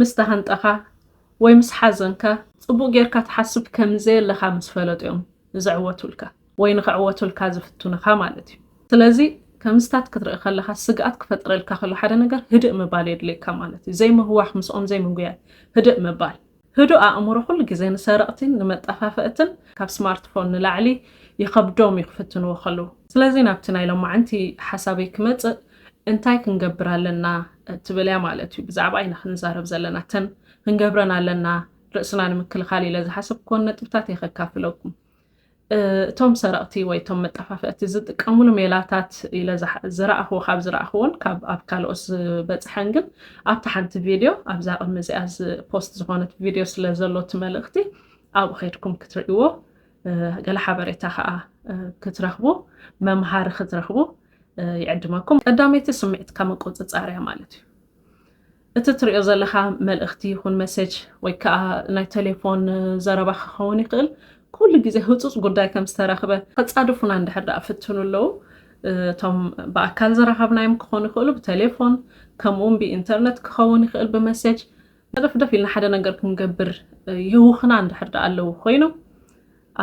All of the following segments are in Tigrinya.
ምስ ተሃንጠኻ ወይ ምስ ሓዘንካ ጽቡቕ ጌርካ ትሓስብ ከም ዘየለኻ ምስ ፈለጡ እዮም ዝዕወቱልካ ወይ ንኽዕወቱልካ ዝፍትኑኻ ማለት እዩ። ስለዚ ከምዚታት ክትርኢ ከለኻ ስግኣት ክፈጥረልካ ከሎ ሓደ ነገር ህድእ ምባል የድልየካ ማለት እዩ። ዘይምህዋኽ፣ ምስኦም ዘይምጉያይ፣ ህድእ ምባል። ህዱእ ኣእምሮ ኩሉ ግዜ ንሰረቕቲን ንመጠፋፈእትን ካብ ስማርትፎን ንላዕሊ ይኸብዶም እዩ ክፍትንዎ ከለዉ። ስለዚ ናብቲ ናይ ሎማዓንቲ ሓሳበይ ክመጽእ፣ እንታይ ክንገብር ኣለና እትብል እያ ማለት እዩ። ብዛዕባ ኢና ክንዛረብ ዘለና። እተን ክንገብረን ኣለና ርእስና ንምክልኻል ኢለ ዝሓሰብክዎን ነጥብታት እየ ከካፍለኩም። እቶም ሰረቕቲ ወይ እቶም መጠፋፍእቲ ዝጥቀምሉ ሜላታት ኢለ ዝረኣኽዎ ካብ ዝረኣኽዎን ካብ ኣብ ካልኦት ዝበፅሐን ግን ኣብቲ ሓንቲ ቪድዮ ኣብዛ ቅድሚ እዚኣ ፖስት ዝኾነት ቪድዮ ስለ ዘሎ እቲ መልእኽቲ ኣብኡ ከድኩም ክትርእይዎ ገለ ሓበሬታ ከኣ ክትረኽቡ መምሃሪ ክትረኽቡ ይዕድመኩም። ቀዳመይቲ ስምዒትካ ምቁጽጻር እያ ማለት እዩ። እቲ ትሪኦ ዘለኻ መልእኽቲ ይኹን መሴጅ ወይ ከኣ ናይ ቴሌፎን ዘረባ ክኸውን ይኽእል ኩሉ ግዜ ህጹጽ ጉዳይ ከም ዝተረኽበ ከጻድፉና እንድሕር ደኣ ፍትኑ ኣለዉ እቶም ብኣካል ዝረኸብናዮም ክኾኑ ይኽእሉ ብቴሌፎን ከምኡውን ብኢንተርነት ክኸውን ይኽእል ብመሴጅ ደፍደፍ ኢልና ሓደ ነገር ክንገብር የውኽና እንድሕር ደኣ ኣለዉ ኮይኖም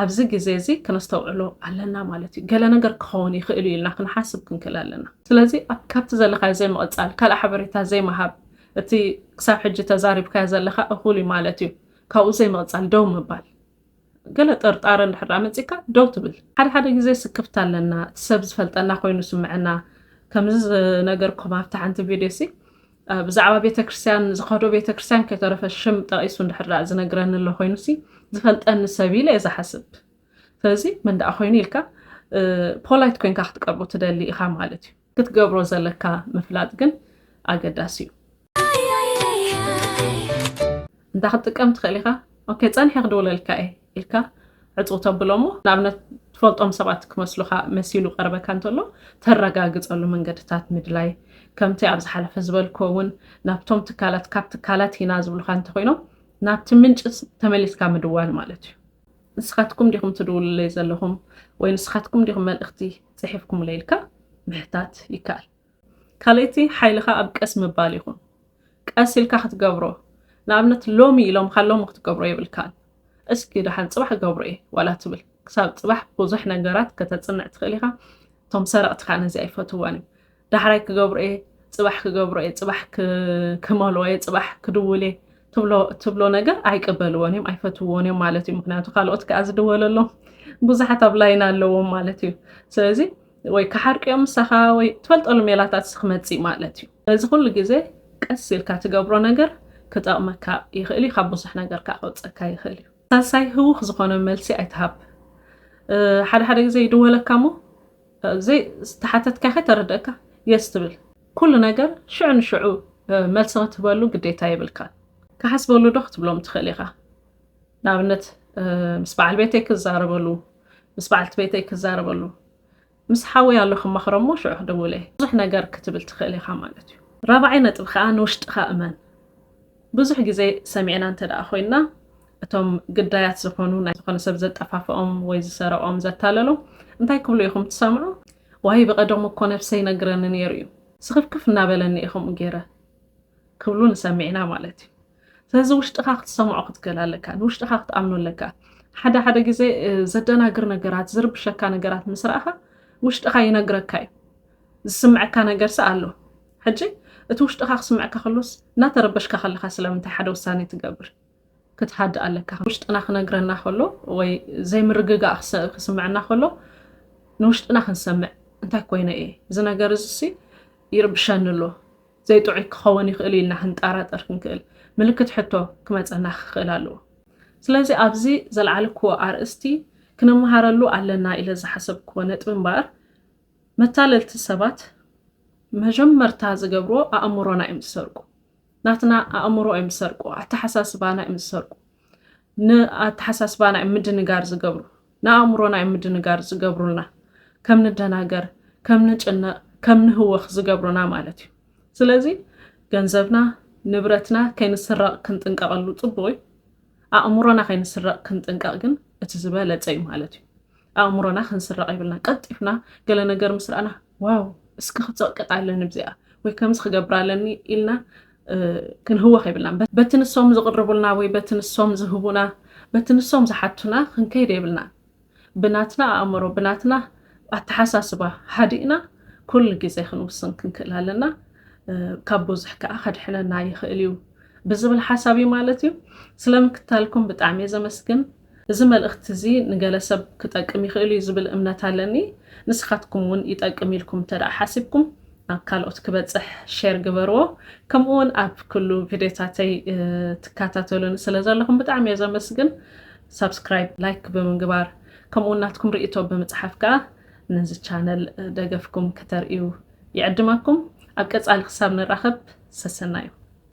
ኣብዚ ግዜ እዚ ከነስተውዕሎ ኣለና ማለት እዩ ገለ ነገር ክኸውን ይኽእል እዩ ኢልና ክንሓስብ ክንክእል ኣለና ስለዚ ኣብ ካብቲ ዘለካዮ ዘይምቕጻል ካልእ ሓበሬታ ዘይምሃብ እቲ ክሳብ ሕጂ ተዛሪብካዮ ዘለካ እኹል እዩ ማለት እዩ ካብኡ ዘይምቕጻል ደው ምባል ገለ ጥርጣረ እንድሕር ደኣ መጺካ ደው ትብል። ሓደ ሓደ ግዜ ስክፍታ ኣለና፣ እቲ ሰብ ዝፈልጠና ኮይኑ ይስምዐና። ከምዚ ዝነገርኩም ኣብታ ሓንቲ ቪድዮሲ ብዛዕባ ቤተክርስትያን ዝኸዶ ቤተክርስትያን ከይተረፈ ሽም ጠቒሱ እንድሕር ደኣ ዝነግረኒ ኣሎ ኮይኑሲ ዝፈልጠኒ ሰብ ኢለ እየ ዝሓስብ። ስለዚ መን ደኣ ኮይኑ ኢልካ ፖላይት ኮንካ ክትቀርቦ ትደሊ ኢኻ ማለት እዩ። ክትገብሮ ዘለካ ምፍላጥ ግን ኣገዳሲ እዩ። እንታይ ክትጥቀም ትኽእል ኢኻ? ኦኬ ጸኒሐ ክድውለልካ እየ ኢልካ ዕፁ ተብሎ እሞ ንኣብነት ትፈልጦም ሰባት ክመስሉኻ መሲሉ ቀርበካ እንተሎ ተረጋግፀሉ መንገድታት ምድላይ ከምቲ ኣብ ዝሓለፈ ዝበልኮ እውን ናብቶም ትካላት ካብ ትካላት ኢና ዝብሉካ እንተኮይኖም ናብቲ ምንጭ ተመሊስካ ምድዋል ማለት እዩ ንስኻትኩም ዲኹም ትድውሉለይ ዘለኹም ወይ ንስኻትኩም ዲኹም መልእኽቲ ጽሒፍኩምለይ ኢልካ ምሕታት ይከኣል። ካልእቲ ሓይልኻ ኣብ ቀስ ምባል ይኹን። ቀስ ኢልካ ክትገብሮ ንኣብነት ሎሚ ኢሎምኻ ሎሚ ክትገብሮ የብልካን። እስኪ ደሓን ጽባሕ ክገብሮ እየ ዋላ ትብል። ክሳብ ጽባሕ ብዙሕ ነገራት ከተጽንዕ ትኽእል ኢኻ። እቶም ሰረቕቲ ከኣ ነዚኣ ኣይፈትውዋን እዮም። ዳሕራይ ክገብሮ እየ፣ ፅባሕ ክገብሮ እየ፣ ፅባሕ ክመልኦ እየ፣ ፅባሕ ክድውል እየ ትብሎ እትብሎ ነገር ኣይቅበልዎን እዮም፣ ኣይፈትውዎን እዮም ማለት እዩ። ምክንያቱ ካልኦት ከዓ ዝድወለሎም ብዙሓት ኣብ ላይን ኣለዎም ማለት እዩ። ስለዚ ወይ ክሓርቅዮም ምሳኻ ወይ ትፈልጠሉ ሜላታት ስክመፅእ ማለት እዩ እዚ ኩሉ ግዜ ቀስ ኢልካ ትገብሮ ነገር ክጠቕመካ ይኽእል እዩ ካብ ብዙሕ ነገር ከዓ ከውፀካ ይኽእል እዩ ሳልሳይ ህውኽ ዝኾነ መልሲ ኣይትሃብ ሓደ ሓደ ግዜ ይድወለካ እሞ ዘይ ዝተሓተትካኸ ተረደእካ የስ ትብል ኩሉ ነገር ሽዑ ንሽዑ መልሲ ክትህበሉ ግዴታ የብልካን ክሓስበሉ ዶ ክትብሎም ትኽእል ኢኻ ንኣብነት ምስ በዓል ቤተይ ክዛረበሉ ምስ በዓልቲ ቤተይ ክዛረበሉ ምስ ሓወይ ኣሎ ክማኽሮ እሞ ሽዑ ክደውለ ብዙሕ ነገር ክትብል ትኽእል ኢኻ ማለት እዩ ራብዓይ ነጥቢ ከዓ ንውሽጥኻ እመን ብዙሕ ግዜ ሰሚዕና እንተድኣ ኮይንና እቶም ግዳያት ዝኾኑ ናይ ዝኾነ ሰብ ዘጠፋፍኦም ወይ ዝሰረቖም ዘታለሎም እንታይ ክብሉ ኢኹም ትሰምዑ? ዋይ ብቐደሙ እኮ ነብሰይ ይነግረኒ ኔሩ እዩ ስኽፍክፍ እናበለኒ እየ ከምኡ ጌረ ክብሉ ንሰምዕ ኢና ማለት እዩ። ስለዚ ውሽጥኻ ክትሰምዖ ክትክእል ኣለካ፣ ንውሽጥኻ ክትኣምኖ ኣለካ። ሓደ ሓደ ግዜ ዘደናግር ነገራት ዝርብሸካ ነገራት ምስ ረኣኻ ውሽጥኻ ይነግረካ እዩ። ዝስምዐካ ነገርሲ ኣሎ ሕጂ እቲ ውሽጥኻ ክስምዐካ ከሎስ እናተረበሽካ ከለኻ ስለምንታይ ሓደ ውሳኔ ትገብር ክትሃድእ ኣለካ ውሽጥና ክነግረና ከሎ ወይ ዘይምርግጋእ ክስምዐና ከሎ ንውሽጥና ክንሰምዕ እንታይ ኮይነ እየ እዚ ነገር እዚሲ ይርብሸኒ ኣሎ ዘይጥዑይ ክኸውን ይኽእል ኢልና ክንጣራጠር ክንክእል ምልክት ሕቶ ክመፀና ክኽእል ኣለዎ ስለዚ ኣብዚ ዘልዓልክዎ ኣርእስቲ ክነመሃረሉ ኣለና ኢለ ዝሓሰብክዎ ነጥቢ እምበኣር መታለልቲ ሰባት መጀመርታ ዝገብርዎ ኣእምሮና እዮም ዝሰርቁ ናትና ኣእምሮ እዮም ዝሰርቁ ኣተሓሳስባና እዮም ዝሰርቁ ንኣተሓሳስባና እዮም ምድንጋር ዝገብሩ ንኣእምሮና እዮም ምድንጋር ዝገብሩልና ከም ንደናገር ከም ንጭነቕ ከም ንህወኽ ዝገብሩና ማለት እዩ ስለዚ ገንዘብና ንብረትና ከይንስረቕ ክንጥንቀቐሉ ጽቡቕ እዩ ኣእምሮና ከይንስረቕ ክንጥንቀቕ ግን እቲ ዝበለጸ እዩ ማለት እዩ ኣእምሮና ክንስረቕ የብልናን። ቀልጢፍና ገለ ነገር ምስ ረኣና ዋው እስኪ ክጽቕቅጣ ኣለኒ ብዚኣ ወይ ከምዚ ክገብራ ኣለኒ ኢልና ክንህወኽ የብልናን። በቲ ንሶም ዝቕርቡልና ወይ በቲ ንሶም ዝህቡና በቲ ንሶም ዝሓቱና ክንከይድ የብልናን። ብናትና ኣእምሮ ብናትና ኣተሓሳስባ ሃዲእና ኩሉ ግዜ ክንውስን ክንክእል ኣለና። ካብ ብዙሕ ከኣ ከድሕነና ይኽእል እዩ ብዝብል ሓሳብ እዩ ማለት እዩ። ስለ ምክታልኩም ብጣዕሚ እየ ዘመስግን። እዚ መልእኽቲ እዚ ንገለ ሰብ ክጠቅም ይኽእል እዩ ዝብል እምነት ኣለኒ። ንስኻትኩም እውን ይጠቅም ኢልኩም እንተድኣ ሓሲብኩም ናብ ካልኦት ክበጽሕ ሼር ግበርዎ። ከምኡ እውን ኣብ ኩሉ ቪድዮታተይ ትከታተሉኒ ስለ ዘለኹም ብጣዕሚ እየ ዘመስግን። ሳብስክራይብ፣ ላይክ ብምግባር ከምኡ እውን ናትኩም ርእይቶ ብምጽሓፍ ከኣ ነዚ ቻነል ደገፍኩም ከተርእዩ ይዕድመኩም። ኣብ ቀጻሊ ክሳብ ንራኸብ ሰሰናዩ።